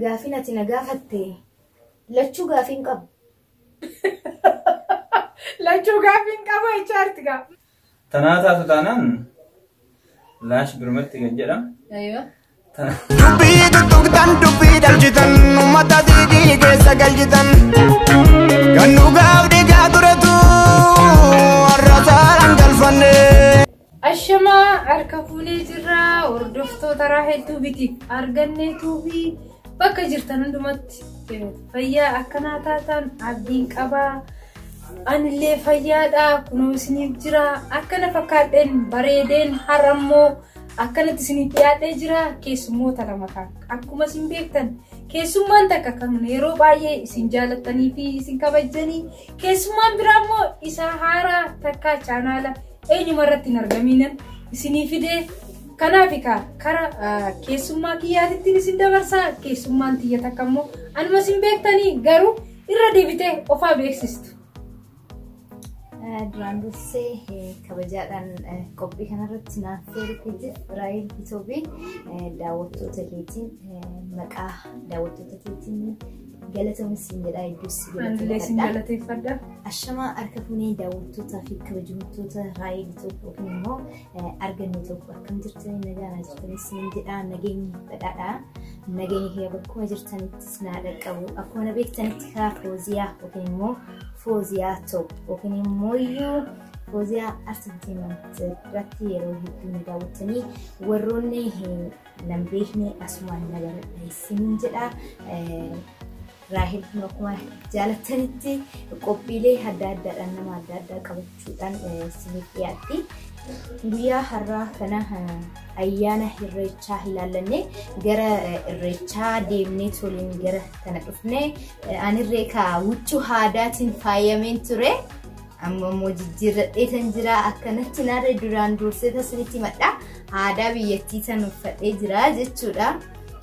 Gaafiin ati na gaafatte lachuu gaafiin qabu. Lachuu gaafiin qabu jechaa jirti gaa. Tanaa taatu taanaan laash birmatti gad jedha. Aywa. Dubbii tuttuqtan dubbii dhalchitan uummata diigii keessa galchitan kan dhugaaf dhiigaa turetu warra saaraan galfanne. Ashamaa harka fuunee jirra hordoftoota raa hedduu bitiif argannee tuubii bakka jirtan hundumatti fayyaa akkanaa taatan abdiin qabaa anillee fayyaadha kunoo isiniif jira akkana fakkaadheen bareedeen har'ammoo akkanatti isiniif dhiyaadhee jira keessummoota lama kan akkuma isin beektan keessummaan takka kan yeroo baay'ee isin jaalattanii fi isin kabajjanii argatte. Keessummaan biraa immoo isa haaraa takkaa chaanaala eenyuma irratti hin argamiinan isinii fidee kanaaf egaa kara ah, keessummaa kiyyaatittiin isin dabarsaa keessummaan tiyya takka immoo anuma isin beektanii garuu irra deebitee ofaa beeksistu. Duraan dursee eh, kabajaadhaan eh, qophii kanarratti naaf feerifeetiif Raayil Itoobii daawwattoota keetiin eh, maqaa daawwattoota keetiin Galatoom siin jedhaa hedduus si Anillee sin galateeffadha. galateeffadha. Ashamaa harka fuunee daawwattootaa fi kabajamtoota raayii tokko yookiin immoo arganne tokko akkam jirtanii nagaan jirtanii siin jedhaa nageenyi badhaadhaa. Nageenyi kee bakkuma jirtanitti sinaa dhaqqabu. Akkuma na beektanitti kaa fooziyaa yookiin immoo fooziyaa ta'u yookiin immoo iyyuu fooziyaa artiitiin irratti yeroo hedduu na daawwattanii warroonni nan beekne asumaan na baradhe isiniin jedha. Raahel kun akkuma jaalattanitti qophiilee adda addaadhaan nama adda addaa qabachuudhaan isiniif dhiyaatti. Guyyaa har'aa kana ayyaana irreechaa ilaallanne gara irreechaa deemnee toliin gara kana dhufne anirree kaa huccuu aadaatiin faayameen ture. Amma immoo jijjiirradhee tan jira akkanatti narra duraan dursee tasinitti madha aadaa biyyattii tan uffadhee jira jechuudha.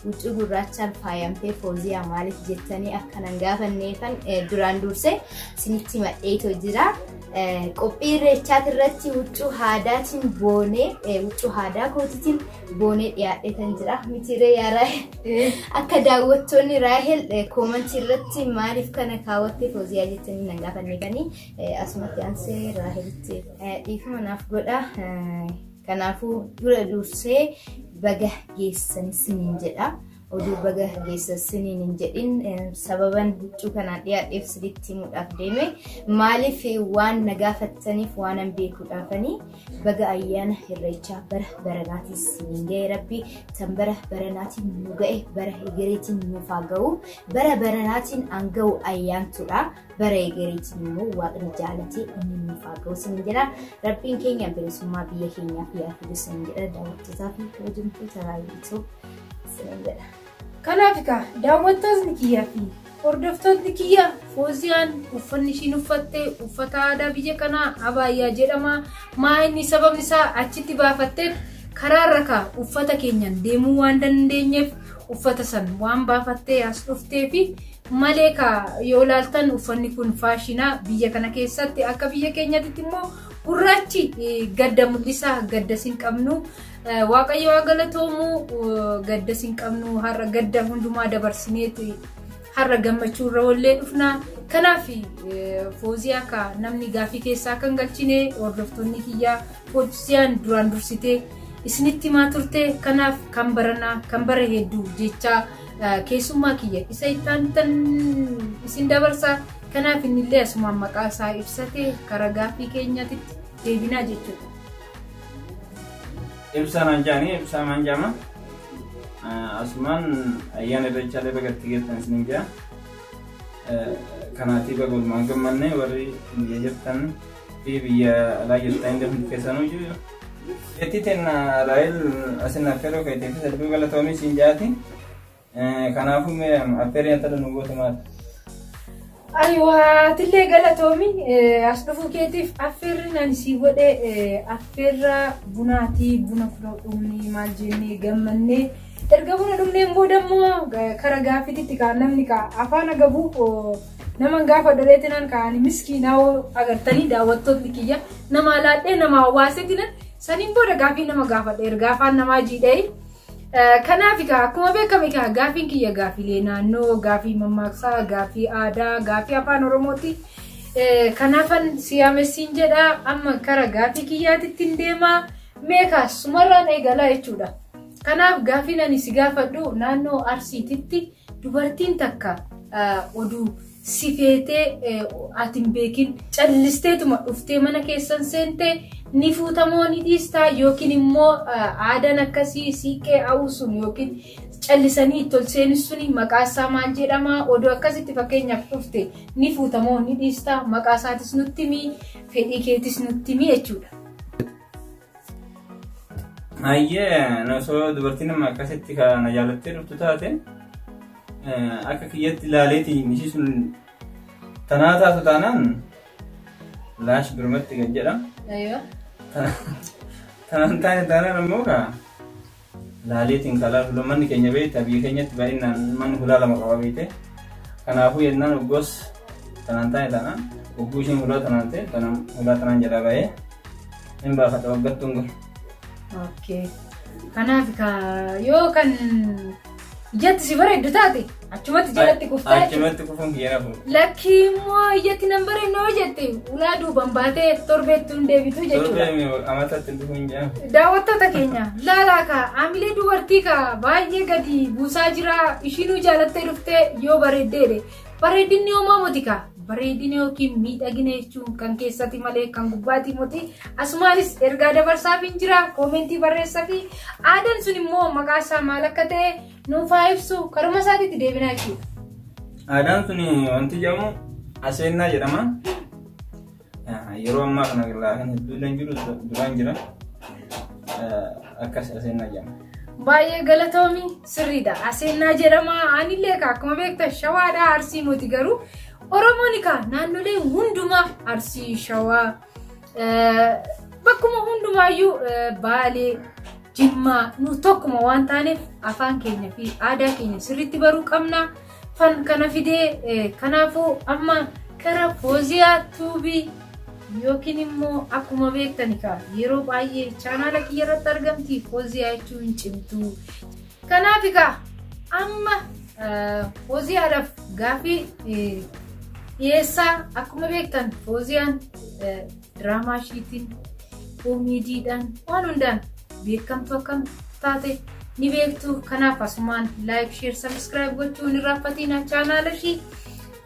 Huccuu gurraachaan faayamtee fooziyaa maaliif jettanii akkanan gaafanneefan duraan dursee sinitti madheetoo jira. Qophii irreechaati irratti huccuu aadaatiin boonee huccuu aadaa kootiitiin goonee dhiyaadhee kan jira mitiiree yaa raahel akka daawwattoonni raahel koomantii irratti maaliif kana kaawwattee fooziyaa jettanii nan gaafanne kanii asumatti ansee raahelitti dhiifama naaf godha kanaafuu dura dursee baga geessan siniin jedha Oduu baga geessa siniin hin jedhin sababan huccuu kanaan dhiyaadheef silitti himuudhaaf deeme maaliif waan na gaafattaniif waanan beekuudhaafanii baga ayyaana irreechaa bara baranaatiis siniin ga'e rabbi tan bara baranaatiin nu ga'e bara egereetiin nuuf haa ga'u bara baranaatiin an ga'u ayyaantuudha bara egereetiin immoo waaqni jaalatee inni nuuf haa ga'u siniin jedha rabbiin keenya bilisummaa biyya keenyaaf yaa fidu siniin jedha daawwattootaa fi kabajamtoota raayyaa isiniin jedha. Kanaaf egaa daawwattootni kiyyaa fi hordoftootni kiyya Fooziyaan uffanni ishiin uffatte uffata aadaa biyya kanaa abaayyaa jedhama. Maa inni sababni isaa achitti baafatteef karaarra kaa uffata keenyaan deemuu waan dandeenyeef uffata san waan baafattee as dhuftee fi malee kaa yoo ilaaltan uffanni kun faashina biyya kana keessatti akka biyya keenyatti immoo gurraachi gadda mul'isa gadda sin qabnu Waaqayyo haa galatoomu gaddas hin qabnu har'a gadda hundumaa dabarsineeti har'a gammachuu irra wallee dhufna. Kanaaf fooziyaa akka namni gaafii keessaa kan galchine hordoftoonni kiyyaa fooziyaan duraan dursitee isinitti himaa turte kanaaf kan baranaa kan bara hedduu jechaa keessummaa kiyya isa ittaantan isin dabarsa kanaaf innillee asumaan maqaa isaa ibsate karaa gaafii keenyatitti deebinaa jechuudha. Ibsaa naan jaanii ibsaa maan jaama. Asumaan ayyaana irreechaa illee baga itti geessan isiniin jaa. Kanaatii baga walumaan gammanne warri biyya jirtan fi biyya alaa jirtan illee hundi keessanuu jiru. Beetii teenna Raayil asin affeeroo keetiifis hedduu galatoomi siin jaati. Kanaafuu mee affeerii intala nu goote maal? Ayiwaa tillee galatoomi as dhufuu keetiif affeerri nani sii godhe affeerra bunaatii buna fudhoo dhumni maal jennee gammannee erga buna dhumneen booda immoo kara gaaffiitti kaa namni kaa afaan agabuu nama gaafa dholeetinan kaani miskiinaa agartanii daawwattootni kiyya nama laadhee nama hawaasetinan saniin booda gaaffii nama gaafadhe erga afaan namaa jiidhee Kanaaf egaa akkuma beekamu egaa gaafiin kiyya gaafiilee naannoo, gaafii mammaaksaa, gaafii aadaa, gaafii afaan Oromooti. Kanaafan siyaamessiin jedha amma kara gaafii kiyyaatitti hin deema. Meekaa sumarraan eegalaa jechuudha. Kanaaf gaafiin ani si gaafadhu naannoo Arsiititti dubartiin takka oduu si feetee ati hin beekin callisteetuma dhuftee mana keessan seentee ni fuutamoo ni dhiistaa yookiin immoo aadaan akkasii siiqqee hawuu sun yookiin callisanii itti ol seenis suni maqaa isaa maal jedhama odoo akkasitti fakkeenyaaf dhufte ni fuutamoo ni dhiistaa maqaa isaatis nutti himi fedhii keetis nutti himi jechuudha. Hayyee osoo dubartiin nama akkasitti kana jaalattee dhuftu taate akka kiyyatti ilaaleeti ishii sun tanaa taatu taanaan laash birmatti kan jedhamu. Tanaan taane taanaan ammoo kaa. laalee xiinxalaa fuula manni keenya beekta biyya keenyatti baay'inaan manni hulaa lama qaba beekte kanaafuu yennaan hoggoos tanaan taa'e taanaan hogguu ishiin hulaa tanaan ta'e tanaan hulaa tanaan jalaa bahee hin baafadha waggattuun kun. Okay. Kanaaf ka yoo kan Iyyatti si bareeddu taate achumatti jalatti kuftaa jechuudha. Achumatti kufuun keena fuudha. Lakkii immoo iyyatti nan bareednu yoo jette ulaa duubaan baatee torbeetti hin deebitu jechuudha. Torbee amatatti hin dhufuun jaa. Daawwattoota keenya laalaa ka hamilee dubartii ka baay'ee gadi buusaa jira ishiinuu jaalattee dhuftee yoo bareeddeedhe. Bareedinni homaa motikaa bareedina yookiin miidhagina jechuun kan keessati malee kan gubbaatii moti asumaanis ergaa dabarsaaf hin jira koomentii barreessa fi aadaan sun immoo maqaa isaa maal akka ta'e nuuf haa ibsu karuma isaatiitti deebinaa jechuudha. Aadaan sun wanti jedhamu aseennaa jedhama. Yeroo ammaa kana laafiin hedduullee hin jiru duraan jira akkas aseenna jedhama. Baay'ee galatoomi sirriidha. Aseenna jedhama anillee akkuma beektan shawaadha arsii moti garuu Oromoon egaa naannolee hundumaa arsii shawaa bakkuma hundumaayyuu baalee jimmaa nu tokkuma waan taaneef afaan keenya fi aadaa keenya sirriitti baruu qabna. fan kana fidee eh, kanaafuu amma kara fooziyaa tuubii yookiin immoo akkuma beektani kaa yeroo baay'ee chaanaala kiyya irratti argamti fooziyaa jechuu hin cimtu kanaaf kaa amma eh, fooziyaadhaaf gaafii eh, dhiyeessaa akkuma beektan fooziyaan eh, diraamaa ishiitiin, koomeediidhaan waan hundaan beekamtu akkam taate ni beektu. Kanaaf asumaan laayik, sheer, sabiskiraayib gochuun hin raaffatiin chaanaala ishii.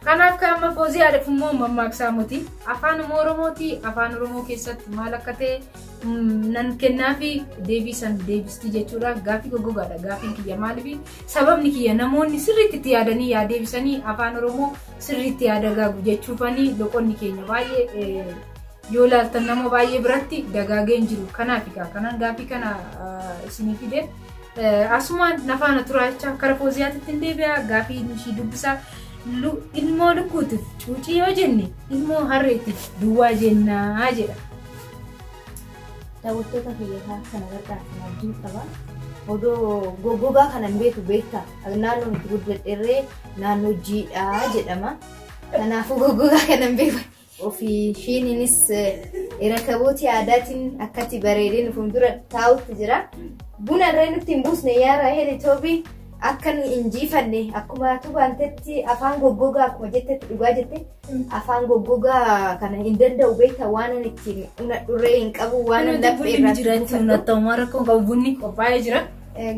Kanaaf kan amma foozii aadaf immoo mammaaksaa moti afaan oromooti afaan oromoo keessatti maal akka ta'e nan kennaa fi deebii san deebistii jechuudha gaafii goggogaadha gaafiin kiyya maaliif sababni kiyya namoonni sirriitti itti yaadanii yaa deebisanii afaan oromoo Sirriitti yaa dagaagu jechuufani loqonni keenya baay'ee yoo ilaaltan nama baay'ee biratti dagaagee hin jiru. Kanaaf egaa kanan gaaffii kana isinii fide. Asumaan nafaana turaa jecha kara fooziyaatitti hin deebi'a gaaffii ishii dubbisa. Ilmoo lukkuutiif cuucii yoo jenne ilmoo harreetiif duwwaa jennaa jedha. Daawwattoota kiyya kaa akka na gargaartan abdiin qaba. Odoo goggogaa kana hin beeku beektaa? Naannoon itti guddadherree naannoo jiidha jedhama. Kanaafuu goggogaa kana hin beeku. Ofii shiiniinis irakabooti aadaatiin akkatti bareedee nu fuuldura taa'utti jira. Buna irree nutti hin buusne yaa Raahel Itoobii akka nu injiifanne akkuma tubaantetti afaan goggogaa akkuma jettetti dhugaa jette. Afaan goggogaa kana hin danda'u beektaa waan ani ittiin unadhurree hin qabu waan ani laphee irraa jiraachuu nattammaa rakkoo qabu bunni qophaa'ee jira.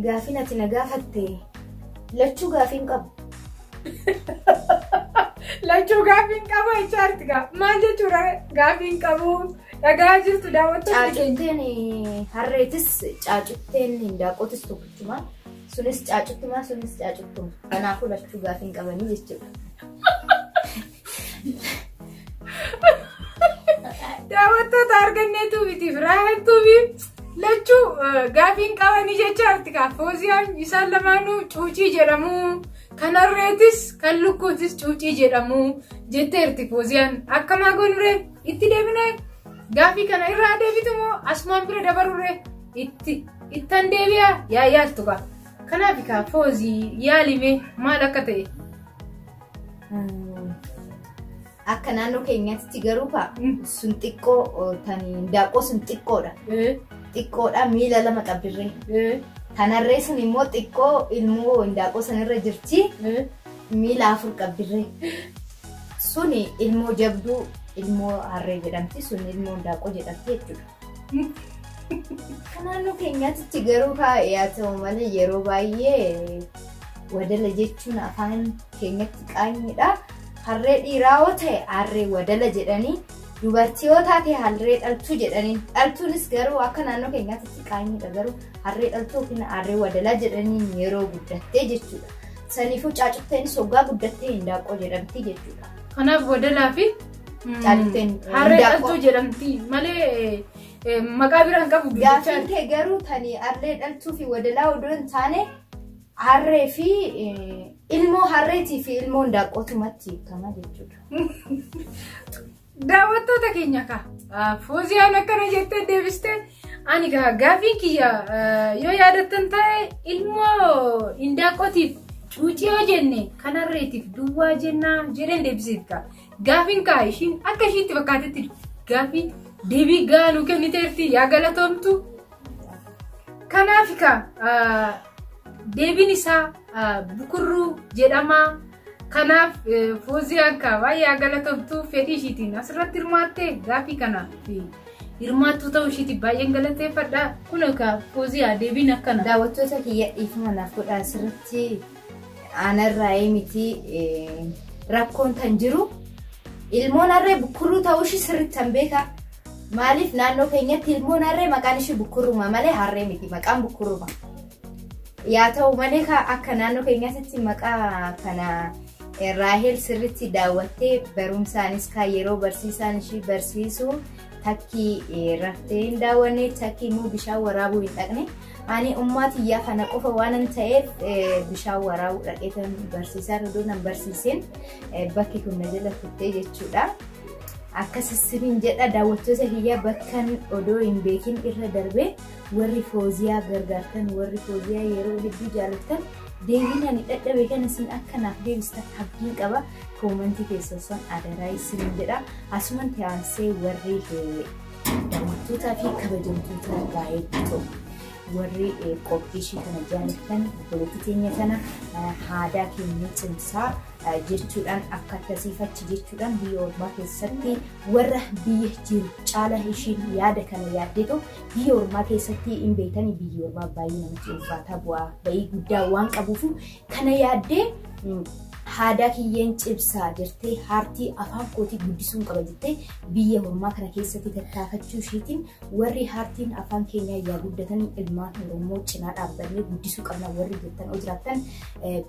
Gaafiin ati na gaafatte lachuu gaafiin qabu. Lachuu gaafiin qabu jechaarti gaa maal jechuudha gaafiin qabu dhagaa jirtu daawwattoonni keenya. Caacutteen harreetis caacutteen daaqotis tokkichuma. Sunis caacuttumaa sunis caacuttuma. Kanaafuu lachuu gaafii hin qabanii jechuudha. Daawwattoota argannee tuubitiif raayaan tuubii lachuu gaafii hin qabanii jecha artikaa fooziyaan isaan lamaanuu cuucii jedhamu. Kan harreetis kan lukkuutis cuucii jedhamu jetteerti fooziyaan akkamaa gonuree itti deebinee gaafii kana irraa deebitu moo asumaan bira dabaruree itti. Ittan deebi'a yaa yaaltu kaa. Kanaaf kaa foozii yaalime maal akka ta'e. Akka naannoo keenyaatti garuu kaa sun xiqqoo tan daaqqoo sun xiqqoodha. Xiqqoodha miila lama qabdirree. Kanarree sun immoo xiqqoo ilmoo daaqqoo sanarra jirti miila afur qabdirree. Suni ilmoo jabduu ilmoo harree jedhamti sun ilmoo daaqqoo jedhamti jechuudha. Akka naannoo keenyaatti garuu yaa ta'u malee yeroo baay'ee wadala jechuun afaan keenyatti qaanyidha. Harree dhiiraa yoo ta'e harree wadala jedhanii dubartii yoo taate harree dhaltuu jedhanii dhaltuunis garuu akka naannoo keenyaatti qaanyidha garuu harree dhaltuu yookiin harree wadalaa jedhanii yeroo guddattee jechuudha. Saniifuu caacutteenis hoggaa guddattee hindaaqqoo jedhamti jechuudha. Kanaaf wadalaa fi Caalteen Harree hindaaqqoo. dhaltuu jedhamti malee eh, maqaa biraa hin qabu Gaaffiin guddicha. kee garuu tani harree dhaltuu fi wadalaa odoo hin taane harree fi eh, ilmoo harreetii fi ilmoo hindaaqqootumatti hiikama jechuudha. Daawwattoota keenya kaa fooziyaan akkana jettee deebiste ani gaa gaaffiin kiyya eh, yoo yaadattan ta'e ilmoo hindaaqqootiif cuucii yoo jenne kan harreetiif duwwaa jennaa jedheen deebiseef kaa Gaafiin kaa ishiin akka ishiitti fakkaatetti gaafii deebii gahaa nuu kenniteerti yaa galatoomtu. Kanaaf kaa deebiin isaa bukurruu jedhamaa. Kanaaf Fooziyaan kaa baay'ee haa galatoomtu fedhii ishiitiin asirratti hirmaattee gaafii kanaaf hirmaattuu ta'uu ishiitiin baay'een galateeffadha. Kun kaa Fooziyaa deebiin akkana. Daawwattoota kiyya dhiifama naaf godhaa asirratti. Aanarraayii miti rakkoon tan jiru ilmoon harree bukkurruu ta'uu ishii sirriitti tan beeka. Maaliif naannoo keenyatti ilmoon harree maqaan ishii bukkurruma malee harree miti maqaan bukkurruma. Yaa ta'u malee akka naannoo keenyaatti maqaa kana Raahel sirriitti daawwattee barumsaanis kaa yeroo barsiisaan ishii barsiisu takkii raftee hin daawwanne takkii immoo bishaan waraabuu hin dhaqne. Ani ummaa tiyyaa kana qofa waanan ta'eef eh, bishaan waraabuu dhaqee kan barsiisaa odoo nan barsiisin eh, bakki kun na jala kuttee jechuudha. Akkas isiniin jedha daawwattoota kiyyaa bakkan odoo hin beekin irra darbee warri fooziyaa gargaartan warri fooziyaa yeroo hedduu jaallattan deebiin ani dhadhabe kana isin akka naaf deebistan abdiin qaba koomantii keessan san adaraa isiniin jedha asuman tiyaansee warri eh, Daawwattootaa fi kabajamtoota gaa'eetti too warri qophii ishii kana jaalattan obboleetti teenya kana haadaa keenya cimsaa jechuudhaan akka akkasiif achi jechuudhaan biyya ormaa keessatti warra biyya jiru caala ishiin yaada kana yaaddeetu biyya ormaa keessatti hin beekani biyya ormaa baay'ee namatti ulfaataa bu'aa ba'ii guddaa waan qabuuf Kana yaaddee haadaa kiyyeen cibsaa jirtee haartii afaan kootii guddisuun qaba jettee biyya hormaa kana keessatti tattaafachuu ishiitiin warri haartiin afaan keenyaa yaa guddatan ilmaan Oromoo cinaa dhaabbannee guddisuu qabna warri jettan hoo jiraattan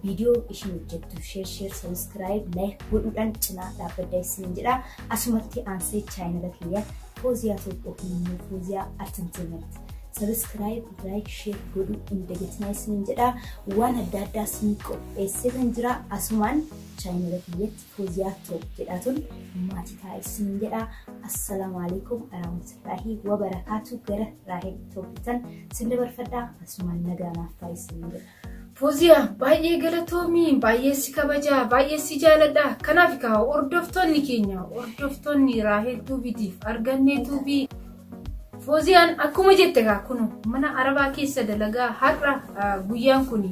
viidiyoo ishiin hojjettu sheer sheer sabiskiraayib laayik godhuudhaan cinaa dhaabbadda isiniin jedha asumatti aansee chaayinala kiyya Fooziyaa tokko kun immoo Fooziyaa Artanteemerti. Sabiskiraayib, laayik, sheer godhuu hin dagatinaa isiniin jedha. Waan adda addaa isin qopheesseetan jira. Asumaan chaayinala kiyyatti Fooziyaa Toop jedhaatuun maatii ta'a isiniin jedha. Assalaamu alaikum warahmatullahi wabarakaatu gara Raahel Tooppitan sin dabarfadha. Asumaan nagaa naaf ta'a isiniin jedha. Foziya baay'ee galatoomi baay'ee si kabaja baay'ee si jaaladha kanaaf kaa hordoftoonni keenya hordoftoonni raahel tuubiitiif argannee tuubii fooziyaan akkuma jette kaa kun mana arabaa keessa dalagaa har'a guyyaan kun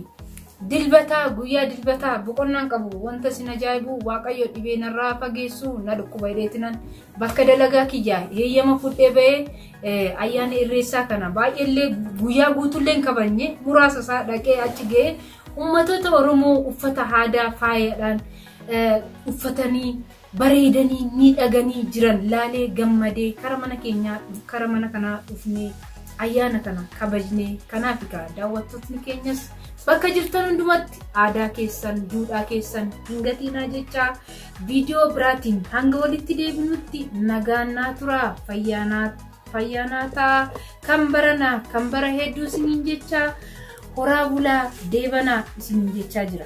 dilbataa guyyaa dilbataa boqonnaan qabu wanta sin ajaa'ibu waaqayyo dhibee narraa fageessu na dhukkuba hidheetinan Bakka dalagaa kiyyaa heeyyama fudhee ba'ee ayyaana irreessaa kana baay'eellee guyyaa guutullee hin kabajne muraasa isaa dhaqee achi ga'ee ummatoota Oromoo uffata aadaa faayadhaan uffatanii bareedanii miidhaganii jiran laalee gammadee kara mana keenyaa kara mana kanaa dhufnee ayyaana kana kabajnee kanaaf egaa daawwattootni keenyas bakka jirtan hundumatti aadaa keessan duudhaa keessan hin gatiinaa jechaa Viidiyoo biraatiin hanga walitti deebinutti nagaan naa turaa fayyaa naa ta'aa kan baranaa kan bara hedduu isiniin jechaa horaa bulaa deebanaa isiniin jechaa jira.